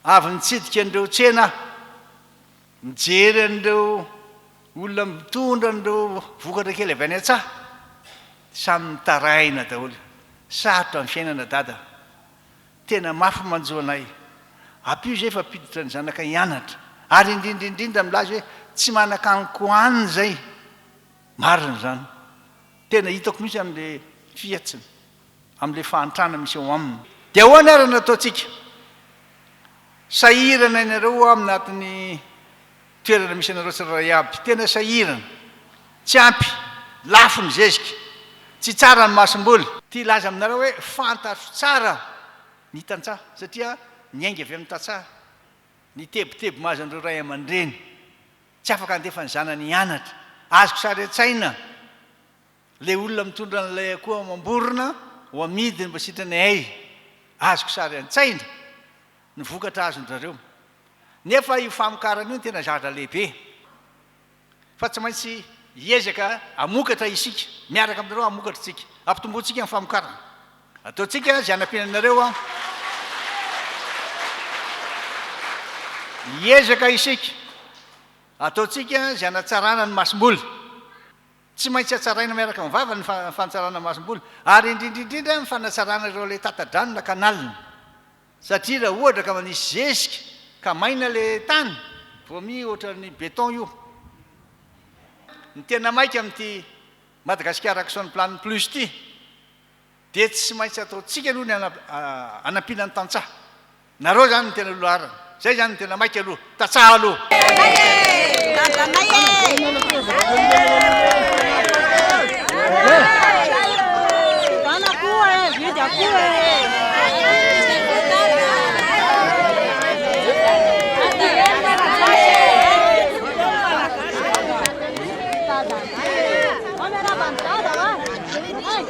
Avy nitsidika an'ireo tsena aho, nijery an'ireo olona mitondra an'ireo vokatra kely avy any an-tsaha, dia samy mitaraina daholo. Sarotra ny fiainana dada. Tena mafy manjo anay. Ampio izay fa ampiditra ny zanakay hianatra. Ary indrindra indrindra milaza hoe tsy manan-kanin-kohanina izay. Marina izany. Tena hitako mihitsy an'ilay fihatsiny. amin'ilay fahantrana misy ao aminy. Dia ahoana ary no ataontsika? Sahirana ianareo hoa amin'ny anatin'ny toerana misy anareo tsirairay aby. Tena sahirana. Tsy ampy. Lafo ny zezika. Tsy tsara ny masomboly. Te hilaza aminareo hoe fantatro tsara ny tantsaha, satria niainga avy amin'ny tantsaha, ny tebiteby mahazo an'ireo ray aman-dreny tsy afaka handefa ny zanany hianatra. Azoko sary an-tsaina. Ilay olona mitondra an'ilay akoho amam-borona ho amidiny mba sitran'ny hay azoko sary an-tsaina ny vokatra azon-dRareo. Nefa io famokarana io no tena zavatra lehibe fa tsy maintsy hiezaka hamokatra isika, miaraka aminareo hamokatra isika, hampitomboantsika ny famokarana. Ataontsika izay hanampiana anareo an. Hiezaka isika, ataontsika izay hanatsarana ny masom-boly. Tsy maintsy hatsaraina miaraka amin'ny vava ny fanatsarana masomboly ary indrindra indrindra ny fanatsarana ireo ilay tata-drano na canal. Satria raha ohatra ka manisy zezika ka maina ilay tany, vomi ohatran'ny beton io. Ny tena maika amin'ity Madagascar Action Plan Plus ity, dia tsy maintsy ataontsika aloha ny hanampiana ny tantsaha. Nareo zany no tena loharana. Zay zany no tena maika aloha. Tantsaha aloha.